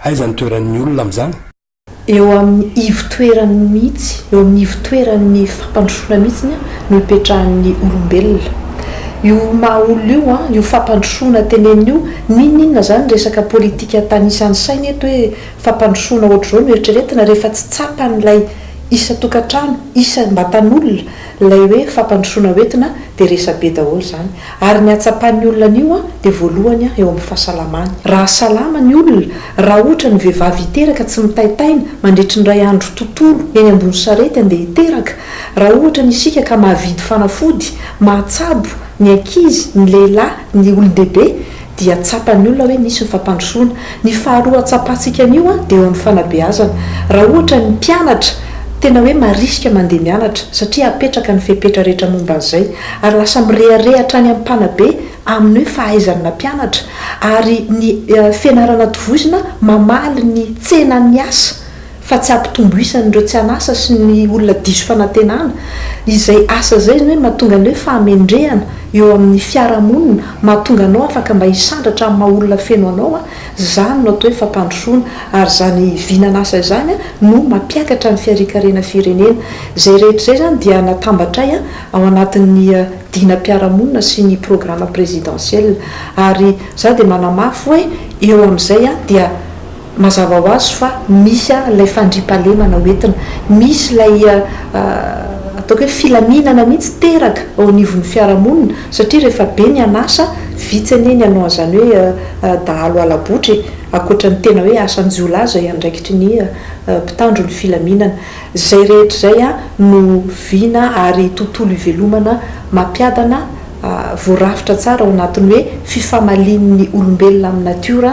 Aiza ny toeran'ny olona amin'izany? Eo amin'ny ivotoerany mihitsy, eo amin'ny ivotoeran'ny fampandrosoana mihitsy no ipetrahan'ny olombelona. Io maha olona io, io fampandrosoana teneniny io, n'inon'inona izany resaka politika tanisan'ny saina eto hoe fampandrosoana ohatr'izao no eritreretina rehefa tsy tsapan'ilay isan-tokantrano, isambatan'olona ilay hoe fampandrosoana hoentina dia resabe daholo izany. Ary ny hatsapan'ny olona an'io dia voalohany eo amin'ny fahasalamany. Raha salama ny olona, raha ohatra ny vehivavy hiteraka tsy mitaitaina mandritry ny iray andro tontolo eny ambony sarety andeha hiteraka, raha ohatra ny isika ka mahavidy fanafody, mahatsabo, ny ankizy, ny lehilahy, ny olon-dehibe, dia tsapan'ny olona hoe nisy ny fampandrosoana. Ny faharoa tsapantsika an'io dia eo amin'ny fanabeazana. Raha ohatra ny mpianatra tena hoe marisika mandeha mianatra satria apetraka ny fepetra rehetra momba an'izay ary lasa mirehareha hatrany amin'ny mpanabe amin'ny hoe fahaizany nampianatra ary ny fianarana tovozina mamaly ny tsenan'ny asa fa tsy hampitombo isa an'ireo tsy an'asa sy ny olona diso fanantenana, izay asa izay izany hoe mahatonga ny hoe fahamendrehana eo amin'ny fiarahamonina, mahatonga anao afaka mba hisandratra amin'ny maha olona feno anao, izany no atao hoe fampandrosoana, ary izany vinan'asa izany no mampiakatra ny fiarikarena firenena. Izay rehetra izay izany dia natambatray ao anatin'ny dinam-piarahamonina sy ny programme présidentiel, ary izaho dia manamafy hoe eo amin'izay dia. Mazava ho azy fa misy ilay fandriampahalemana ho entina, misy ilay ataoko hoe filaminana mihitsy teraka eo anivon'ny fiarahamonina satria rehefa be ny an'asa, vitsy anie ny hanao an'izany hoe dahalo hala-botra e! ankoatra ny tena hoe asan-jiolahy izay andraikitry ny mpitandro ny filaminana. Izay rehetra izay no vina ary tontolo ivelomana mampiadana voarafitra tsara ao anatin'ny hoe fifamalian'ny olombelona amin'ny natiora,